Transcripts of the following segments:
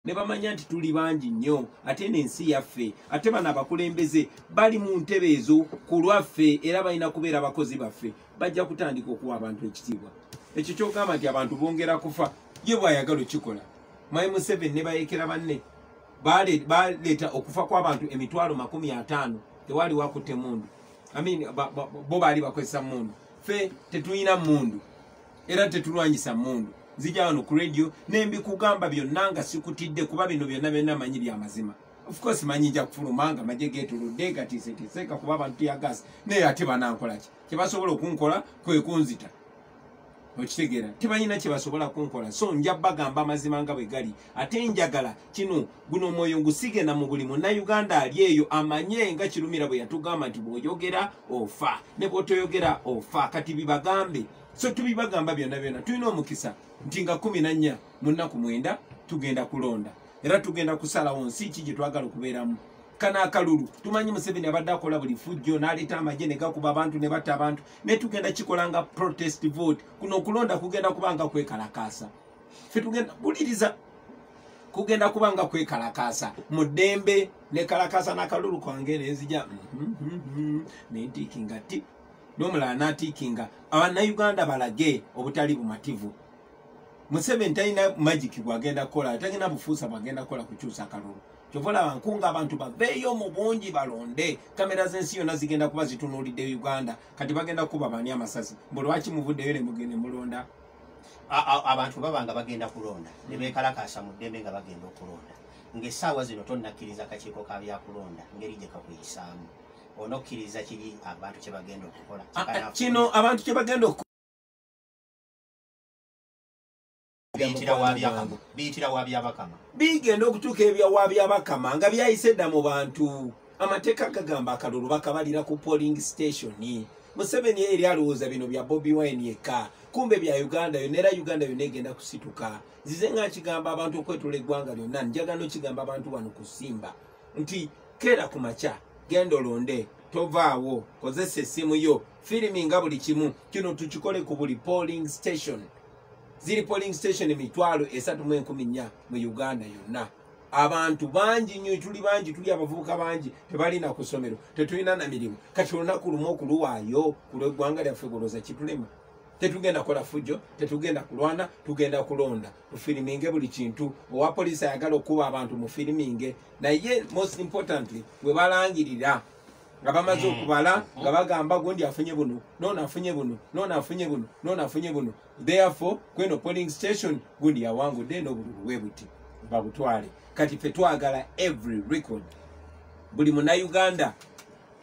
ne bamanya nti tuli bangi nnyo ate n'ensi yaffe ate bano abakulembeze bali mu ntebe ezo ku lwaffe era balina kubeera abakozi baffe bajja kutandika okuwa abantu ekitiibwa ekyo kyogamba nti abantu bongera kufa ye bwayagala okikola my museven ne bayekera banne baleeta okufa kw'abantu emitwalo makumi ataano tewali wakutte mundu amin bo baali bakozesa mundu fe tetulina mundu era tetulwanyisa mundu nzija wano ku radio nembikugamba byonna nga sikutidde kuba bino byonna byonna manyi bya mazima ofcourse manyi nja kufuluma nga maje getuludde gatiseteseeka kuba abantu tuyagasa naye ate banankolaki kyebasobola okunkola kwekunzita okitegeera tebanyina kyebasobola kunkola so nja bagamba amazima nga bwe gali ate njagala kino guno omwoyo ngusigena mu buli munauganda ali eyo amanye nga kirumira bwe yatugamba nti bwoyogera ofa ne bwotoyogera ofa kati bibagambe so tubibagamba byonna byonna tulina omukisa nti nga kumi nannya mu nnaku mwenda tugenda kulonda era tugenda kusalawo nsi ki gye twagala okubeeramu kana akalulu tumanyi museveni abadde akola buli fujjo n'aleeta amagye ne gakuba abantu ne batta abantu naye tugenda kikola nga protest vote kuno okulonda kugenda kuba nga kwekalakaasa fe tugenda buliriza kugenda kuba nga kwekalakaasa mu ddembe nekalakaasa n'akalulu kwange nenzija mm-hmm, mm-hmm, mm-hmm, nentiiki nga ti nomulala natikinga abanauganda balage obutali bumativu museveni talina magic gwagenda kukola talina bufuusa bwagenda kukola kukyusa kalulu kyovolaba nkunga abantu baveeyo mu bungi balonde kamera zensi yona zigenda kuba zitunulidde uganda kati bagenda kuba bani amasasi mbu lwaki muvuddeyo nemugende mulonda abantu baba nga bagenda kulonda nebekalakasa mu ddembe nga bagenda okulonda ngaesaawa zino tonakkiriza kakiiko ka byakulonda ngeri gyekakuyisaamu onokkiriza kiri abantu kye bagenda okukola ah, eh, kino abantu kye bagenda oku biyitira wa byabakama bigenda okutuuka ebya wa byabakama nga byayise dda mu bantu amateeka gagamba akalulu bakabalira ku polling station museveni eri alowooza bino bya bobi wine yekka kumbe bya uganda yona era uganda yona egenda kusituka nzize nga nkigamba abantu okwetula eggwanga lyonna njagano kigamba abantu bano kusimba nti keera ku makya genda olonde tovaawo kozesa essimu yo firimi nga buli kimu kino tukikole ku buli polling station ziri polling station emitwalo esatu mu enkumi nnya mu uganda yonna abantu bangi nnyo tuli bangi tuli abavubuka bangi tebalina ku ssomero tetulina na mirimu kati olunaku lumu okuluwaayo ku lweggwanga lyaffe goloza kitulema tetugenda kola fujjo tetugenda kulwana tugenda kulonda mufiriminge buli kintu owa poliisi ayagala okukuba abantu mufiriminge naye most importantly we balangirira nga bamaze hmm. okubala hmm. nga bagamba gundi afunye buno nona afunye buno nona afunye buno nona afunye buno therefore kweno polling station gundi yawangudde nobululu webuti babutwale kati fe twagala every record buli munauganda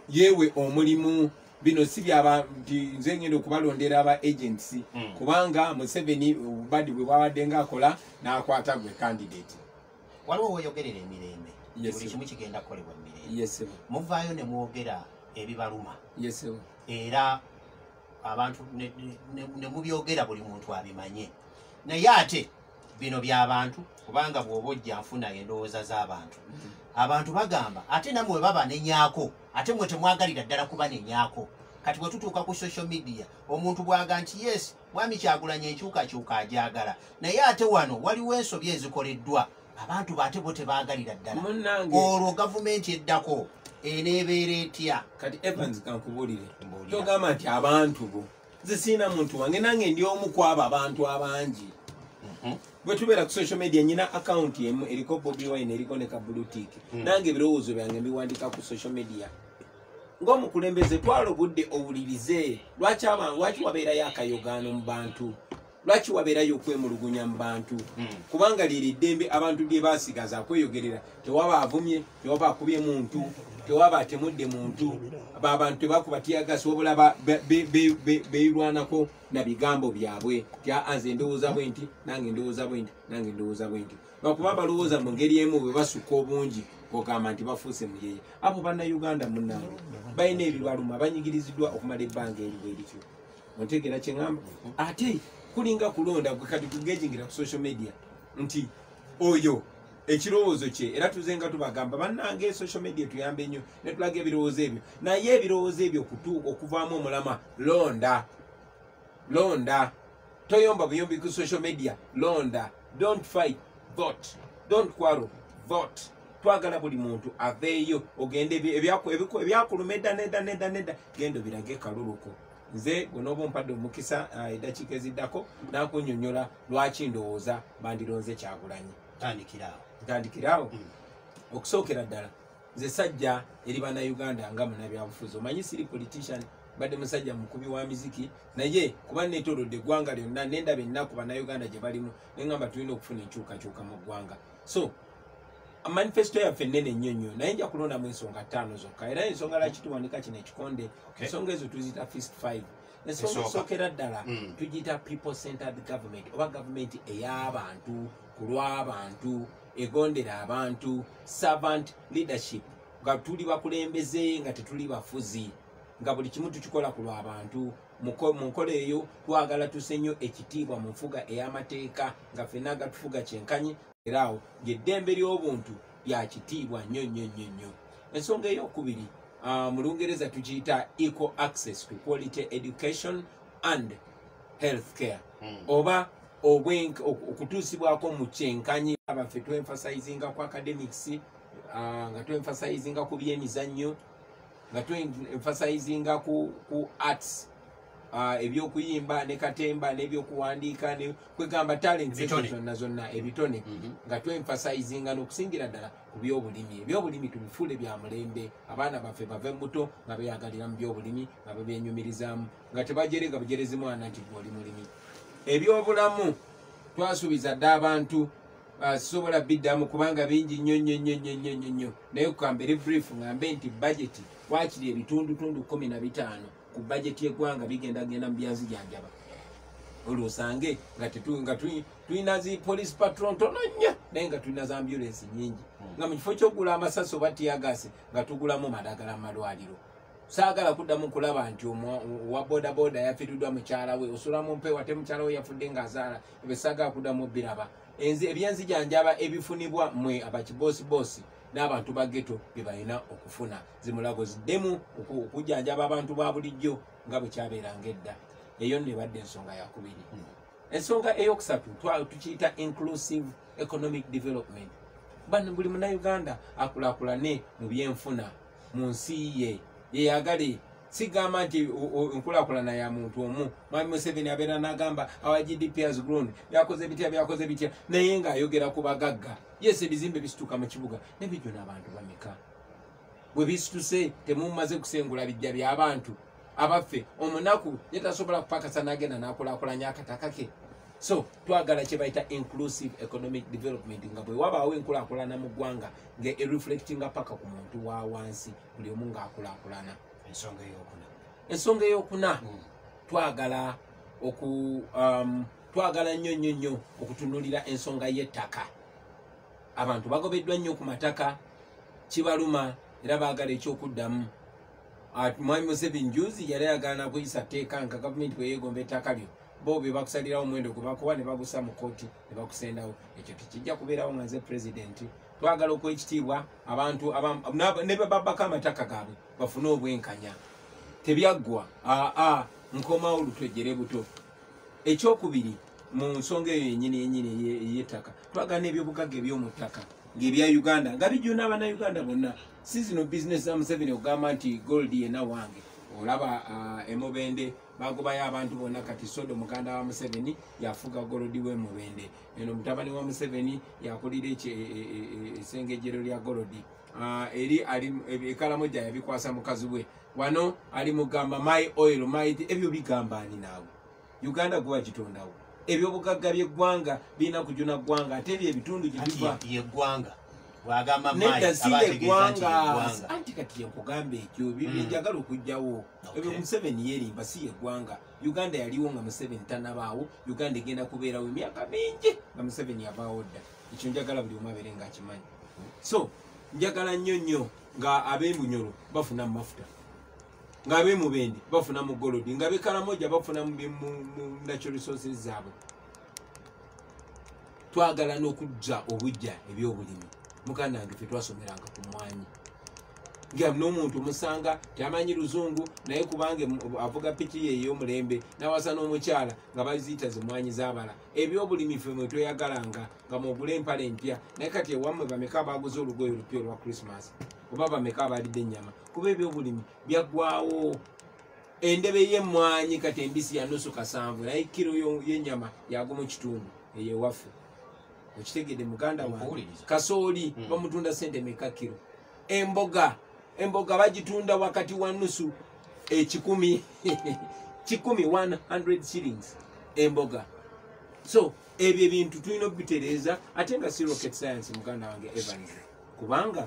yewe omulimu bino si byaba nti nze ngenda okubalondera aba agents mm. kubanga museveni obubadi bwe bwabadde nga akola n'akwata gwe candidate waliwo woyogerera emirembe buli kimu kigenda kukolebwa mumirembe muvaayo ne mwogera ebibaluma era abantu ne mubyogera buli muntu abimanye naye ate bino byabantu kubanga bwoba ojja nfuna endowooza z'abantu abantu bagamba ate namwe baba nenyako ate mwe temwagalira ddala kuba nenyako kati bwetutuuka ku social media omuntu bwaga nti yes mwami kyagulanya enkyukakyuka ajagala naye ate wano waliwo ensobi ezikoleddwa abantu bate bo tebagalira ddala olwo gavumenti eddako eneebeera etya kati evans kankubulire togamba nti abantu bo nze siina muntu wange nange ndi omu kwabo abantu abangi mhm. bwetubeera ku social media nyina akawunti emu eriko bobi wine eriko ne kabulutik mm. nange ebirowoozo byange mbiwandika ku social media ngaomukulembeze twala obudde owulirize lwaki abantu lwaki wabeerayo akayogaano mu bantu lwaki wabeerayo okwemulugunya mu bantu hmm. kubanga liri ddembe abantu lye basigaza kweyogerera tewaba avumye tewaba akubye muntu tewaba atemudde muntu babantu tebakuba tiyagasi wabula beirwanako na bigambo byabwe tyanze endowooza bwe nti nange endowooza bwe nti nange endowooza bwe nti lwakuba balowooza mu ngeri emu bwe basukka obungi ogamba nti bafuuse muyeye abo bannauganda munange balina ebibaluma banyigiriziddwa okumala ebbanga eriwo erityo ontegera kyeŋamba ate kulinga kulonda gwe kati kugegingira ku social media nti oyo ekirowoozo kye era tuze nga tubagamba bannange social media etuyambe nnyo netulaga ebirowoozo ebyo naye ebirowoozo ebyo kutu okuvaamu omulama londa londa toyomba buyombi ku social media londa don't fight vote don't quarrel vote twagala buli muntu aveeyo ogende ebyakuluma edda nedda nedda nedda genda obirage kaluluko nze gwe n'oba ompadde omukisa ah, eddakiika eziddako nakunyonyola lwaki ndowooza bandironze kyagulanyi tandikiraawo ntandikiraawo mm. okusookera ddala nze sajja eri banauganda nga munabyabufuzi omanyi siri politician badde musajja mukubi wa miziki naye kuba netolodde eggwanga lyonna nendaba ennaku banauganda gye balimu nengamba tulina okufuna enkyukakyuka mu ggwanga so manifesto yaffe nene nnyo nnyo naye nja kulondamu ensonga ttaano zokka era ensonga lwaki tuwanika kino ekikonde ensonga ezo tuzita fist five ensonga esookera ddala hmm. tugiyita people centered government oba gavumenti ey'abantu ku lw'abantu egondera abantu servant leadership nga tuli bakulembeze nga tetuli bafuzi nga buli kimu tukikola ku lw'abantu mu nkola eyo twagala tuse nnyo ekitiibwa mu nfuga ey'amateeka nga fenna agatufuga kyenkanyi era awo ng'eddembe ly'obuntu lya kitiibwa nnyo nnyo nnyo nnyo ensonga ey'okubiri uh, mu lungereza tukiyita equal access to quality education and health care mm. oba okutuusibwako mu kyenkanyi abaffe twenfasizinga ku academics uh, nga twenfasizinga ku byemizannyo nga tu emphasizing ku ku arts uh, ebyokuyimba ne katemba nebyokuwandiika ne kwegamba talents ezo zonna zonna ebitone mm -hmm. nga tu emphasizing nokusingira ddala ku byobulimi ebyobulimi tubifuule bya mulembe abaana baffe bave muto nga beyagalira mu byobulimi nga bebenyumirizaamu nga tebajere nga bujerezi mwana nti gwe oli mulimi ebyobulamu twasuubiza dda abantu basobola biddamu kubanga bingi nnyo nnyo nnyo nnyo nnyo nnyo nnyo naye kukambere brief ngambe nti bajeti wakiri ebitundutundu kumi na bitaano ku bajeti y'eggwanga bigenda genda mu byanzijanjaba olwo osange nga tulina zi police patron ntono nnyo naye nga tulina za ambulensi nyingi hmm. nga mu kifo kyokugula amasasi oba tiyagasi nga tugulamu madagala mu malwaliro saagala kuddamu kulaba nti owa bodaboda yafiridwa mukyala we osula mu mpeewa te mukyala we yafudde ng'azaala ebesaga kudamu biraba enzi ebyenzi janjaba ebifunibwa mwe abakibosi bosi n'abantu ba geto bebalina okufuna zimulago ziddemu okujanjaba abantu ba bulijjo nga bwekyabeeranga edda eyo nebadde ensonga yakubiri hmm. ensonga eyokusatu tukiyita inclusive economic development bano buli munauganda akulakulane mu byenfuna mu nsi ye yeyagale sigamba nti enkulakulana ya muntu omu mwami museveni abeera nagamba awa gdp has grown byakoze bitya byakoze bitya naye nga ayogera ku bagagga yes ebizimbe bisituka mu kibuga nebijjo n'abantu bameka bwe bisituse temumaze kusengula bijja by'abantu abaffe omunaku ye tasobola kupakasa nagenda nakulakulanya akataka ke so twagala kyebayita inclusive economic development nga bwewabaawo enkulakulana mu ggwanga nga ereflectinga paka ku muntu wa wansi buli omu ng'akulakulana ensonga eyokuna ensonga eyokuna hmm. twagala oku um, twagala nnyo nnyo nnyo okutunulira ensonga y'ettaka abantu bagobeddwa nnyo ku mataka kibaluma era baagala ekyokuddamu ah, mwami museveni juzi yali ayagala nakuyisa tteeka nga gavumenti bweyegomba ettaka lyo bo bebakusalirawo omwendo gwebakuwa ne bagusa mu kooti ne bakusendawo ekyo tekijja kubeerawo nga nze pulezidenti twagala okuwa ekitiibwa abantu ne bababako amataka gaabwe bafune obwenkanya tebyaggwa aa nkomawo lutwejjere buto ekyokubiri mu nsonga eyo yenyini yenyini eyettaka twagala n'ebyobugagga eby'omu ttaka ng'ebya uganda nga bijuna abanauganda bonna si zino bizinesi za museveni okugamba nti gold yena wange olaba emubende bagobayo abantu bonna kati sodo muganda wa museveni yafuga golodi w'emubende eno mutabani wa museveni yakulira esengejero e, e, e, lya golodi ah, eri ekalamoja yabikwasa mukazi we wano ali mugamba my oil my ebyo bigamba ani naawe uganda gwe wagitondawo ebyobugagga byeggwanga birina kujuna ggwanga ate ebyo ebitundu gyebiva yeggwanga nedda si yeggwanga anti kati yenkugamba ekyo byenjagala hmm. okujjawo ebyo museveni yerimba si yeggwanga uganda yaliwo nga museveni tanabaawo uganda egenda kubeerawo emyaka mingi nga museveni yavaawo dda ekyo njagala buli omu abeere nga akimanyi so njagala nnyo nnyo nga ab'emunyolo bafuna mu mafuta nga ab'emubende bafuna mu golodi nga bekaramoja bafuna mu natural resources zaabwe twagala n'okujja obujja ebyobulimi mukanda wange fe twasomeranga ku mwanyi nga n'omuntu musanga tamanyi luzungu naye kubanga avuga piki ye ey'omulembe nawasa n'omukyala nga baziyita zimwanyi zabala ebyobulimi fe mwe tweyagalanga nga mwogula empala empya naye kati ewammwe bameka abaguze olugoye olupya olwa krismas oba bameka abalidde ennyama kuba ebyobulimi byaggwawo endebe y'emmwanyi kati embisi yanusu kasanvu naye kiro y'ennyama yago mu kitundu eyo ewaffe okitegede muganda wange kasooli mm. bamutunda sente meka kiro emboga emboga bagitunda wakati wa nusu ekikumi kikumi 100 shillings emboga so ebyo ebintu tulina okubitereeza ate nga si rocket science muganda wange evans kubanga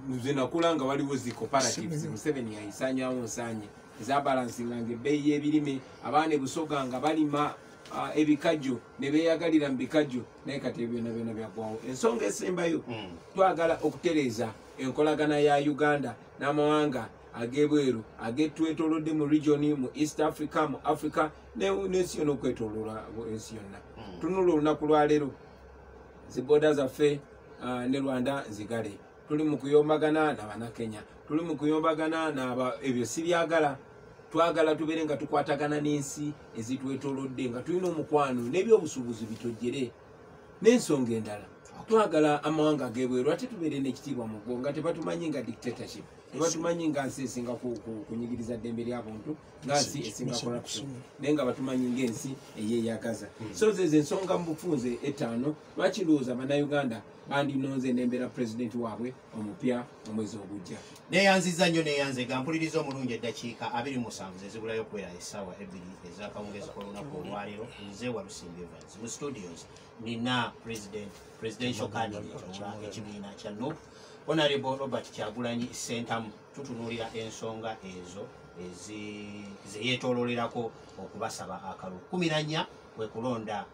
nze nakula nga waliwo zi cooperatives museveni yayisanyawo nsanye ezabalansinga nga ebbeeyi y'ebirime abaana ebusoga nga balima ah, ebikajjo ne beeyagalira mu bikajjo naye kati ebyo byona byona byagwawo ensonga esembayo hmm. twagala okutereeza enkolagana ya uganda n'amawanga ag'ebweru agetwetolodde mu regioni mu east africa mu africa n'ensi yona okwetolola ensi yonna hmm. tunula olunaku lwaleero ziboda zaffe ah, ne rwanda zigale tuli mu kuyombagana nabanakenya tuli mu kuyombagana naba ebyo sibyagala twagala tubeere nga tukwatagana n'ensi ezitwetolodde nga tulina omukwano n'ebyobusuubuzi bitojjere n'ensonga endala twagala amawanga gebweru ate tubeere n'ekitiibwa mu ggo nga tebatumanyi nga dictatorship tebatumanyi nga nsi esinga kunyigiriza ddembe lyabuntu nga nsi esinga corruption naye nga batumanyi ngaensi eyeyagaza hmm. so zezo ensonga mu bufunze etaano lwaki lwooza banauganda bandinonze nembeera pulezidenti waabwe omupya omwezi ogujja neyanziza nnyo neyanze ga mpuliriza omulungi eddakiika abiri musanvu zezibulayo okuwera essaawa ebbiri ezakawungezi kolunaku olwaleero nze walusimbi evans mu studios nina president presidential candidate owa ekibiina kya nup honorable robert kyagulanyi sentamu tutunuulira ensonga ezo zeyetololerako okubasaba akalulu kumiranya kwekulonda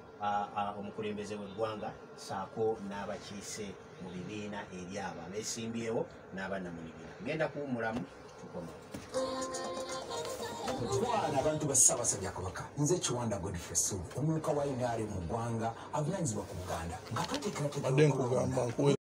omukulembeze weggwanga saako n'abakiise mu bibiina eri abo abesimbyewo n'abaana mu bibiina ngenda kuwumulamu tukoma kutwala abantu ba ssaabasajja kabaka nze kiwanda godfrey sulu omumyuka wa inaare mu ggwanga avunanyizibwa ku buganda nga tweteekerateeka